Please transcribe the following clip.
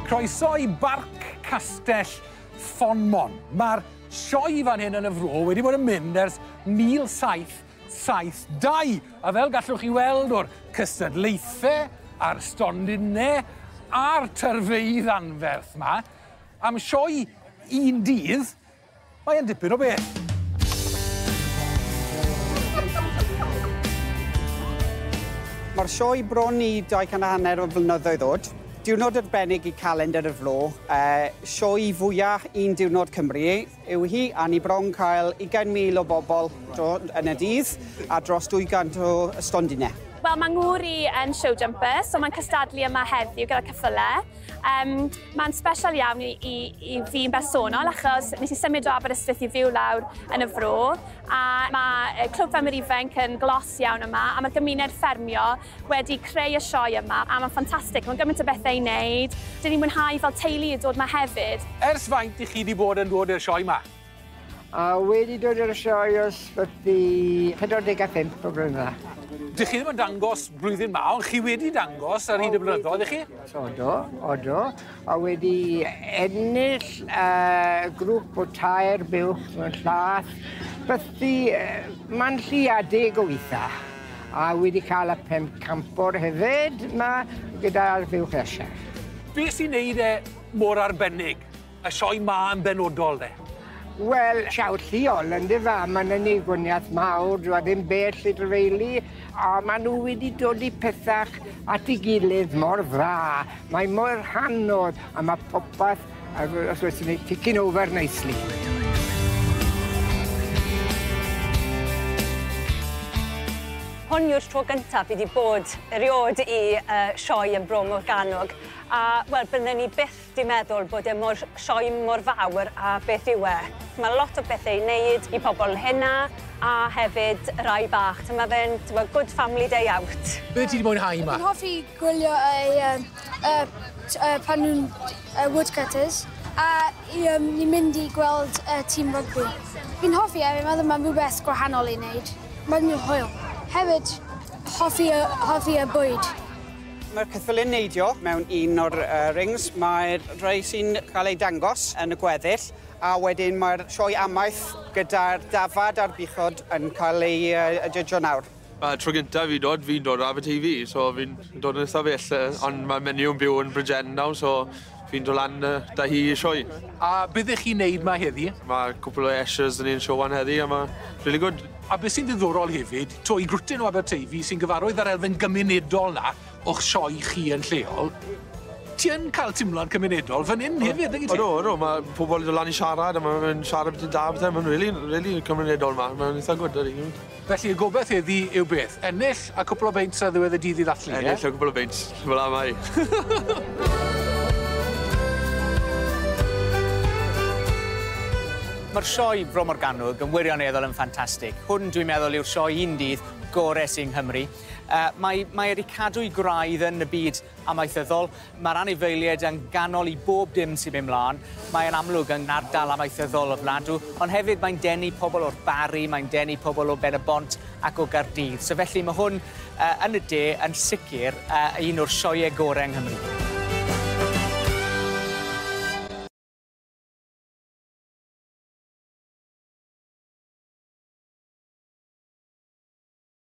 Croeso i Barc Castell Fonmon. Mae'r sioe fan hyn yn y fro wedi bod yn mynd ers 1772, a fel gallwch chi weld o'r cystadlaethau a'r stondinau a'r tyrfeydd anferth 'ma, am sioe un dydd, Mae e'n dipyn o beth. Mae'r sioe bron i 200 a hanner o flynyddoedd oed. Diwrnod arbennig i calendr y flo. Uh, sioe fwyaf un diwrnod Cymru yw hi, a ni bron cael 20,000 o bobl yn y dydd a dros 200 o stondinau. Wel, mae ngŵr i yn show jumper, so mae'n cystadlu yma heddiw gyda cyffylau. Um, Mae'n special iawn i, i, i fi yn bersonol achos nes i symud o Aberystwyth i fyw lawr yn y fro a mae Clwb Ffermwyr Ifanc yn glos iawn yma a mae gymuned ffermio wedi creu y sioe yma a mae'n ffantastig, mae'n gymaint o bethau i wneud. Dyn ni'n mwynhau fel teulu i dod yma hefyd. Ers faint i chi wedi bod yn dod i'r sioe yma? A wedi dod i'r sioe o ysbyty 45 o flynydda. Dych chi ddim yn dangos blwyddyn ma, ond chi wedi dangos ar hyd y blynyddoedd, chi? Odo, odo. A wedi ennill uh, grŵp o tair buwch mewn llath, bythu uh, man lliadig o weitha. A wedi cael y pemp campor hefyd, mae gyda'r buwch eisiau. Be sy'n neud e mor arbennig? Y sioe 'ma yn benodol de? Wel, siawt lleol yndyfe, a ma' 'na neigoniaeth mawr, dyw e ddim bell i drefeili, a ma' nhw wedi dod i pethach at ei gilydd mor dda, mae mor hanodd, a ma' popeth yy fel os oes ni ticking over nicely. Hon yw'r tro gyntaf fi 'di bod eriôd i yy sioe yn Bro Morgannwg, a wel bydden ni byth Dwi'n meddwl bod e mor sioe mor fawr a beth yw e. Mae lot o bethau i wneud i pobl hŷn a hefyd y rhai bach. So mae fe'n good family day out. Be ti 'di mwynhau 'ma? Dwi'n hoffi gwylio y yym y t- yy pan nhw'n yy woodcutters a i yym ni'n mynd i gweld y tîm rygbi. Fi'n hoffi e fi'n meddwl mae'n rhywbeth gwahanol i wneud. Mae'n hwyl. Hefyd hoffi y hoffi y bwyd. Mae'r ceffyl yn neidio mewn un o'r uh, rings. Mae'r rhai sy'n cael eu dangos yn y gweddill a wedyn mae'r sioe amaeth gyda'r dafad a'r buchod yn cael ei uh, judgio nawr. Mae tro gyntaf fi dod, fi'n dod o Aberteifi, so fi'n dod yn ystafell, uh, ond mae menu yn byw yn Bridgend nawr, so Ffindo lan yy 'da hi y sioe. A be' ddech chi'n neud 'ma heddi? Ma' cwpwl o ushers 'da ni yn Siôwan heddi a ma' rili gwd. A be' sy'n ddiddorol hefyd, 'to i Grwtyn o Aberteifi sy'n gyfarwydd â'r elfen gymunedol 'na o'ch sioe chi yn lleol, ti yn ca'l timlo'n cymunedol fyn 'yn hefyd nag wyt ti? Odw odw ma' pobol yn do' lan i siarad a ma' fe'n siarad byti da a pethe ma'n rili rili cymunedol 'ma ma'n itha gwd ydi. Felly y gobeth heddi yw beth? Ennill a cwpl o beints ar ddiwedd y dydd i ddathlu, ie? Ennill a cwpl o beints, fel amau. Mae'r sioe Bro Morgannwg yn wirioneddol yn ffantastig. Hwn, dwi'n meddwl, yw'r sioe un dydd gore sy yng Nghymru. Yy mae mae e 'di cadw'i gwraidd yn y byd amaethyddol. Mae'r anifeiliaid yn ganol i bob dim sy'n mynd mlaen. Mae e'n amlwg yn ardal amaethyddol ofnadw, ond hefyd mae'n denu pobl o'r Barri, mae'n denu pobl o Ben y Bont ac o Gaerdydd. So felly mae hwn uh, yn y de yn sicr uh, un o'r sioeau gorau yng Nghymru.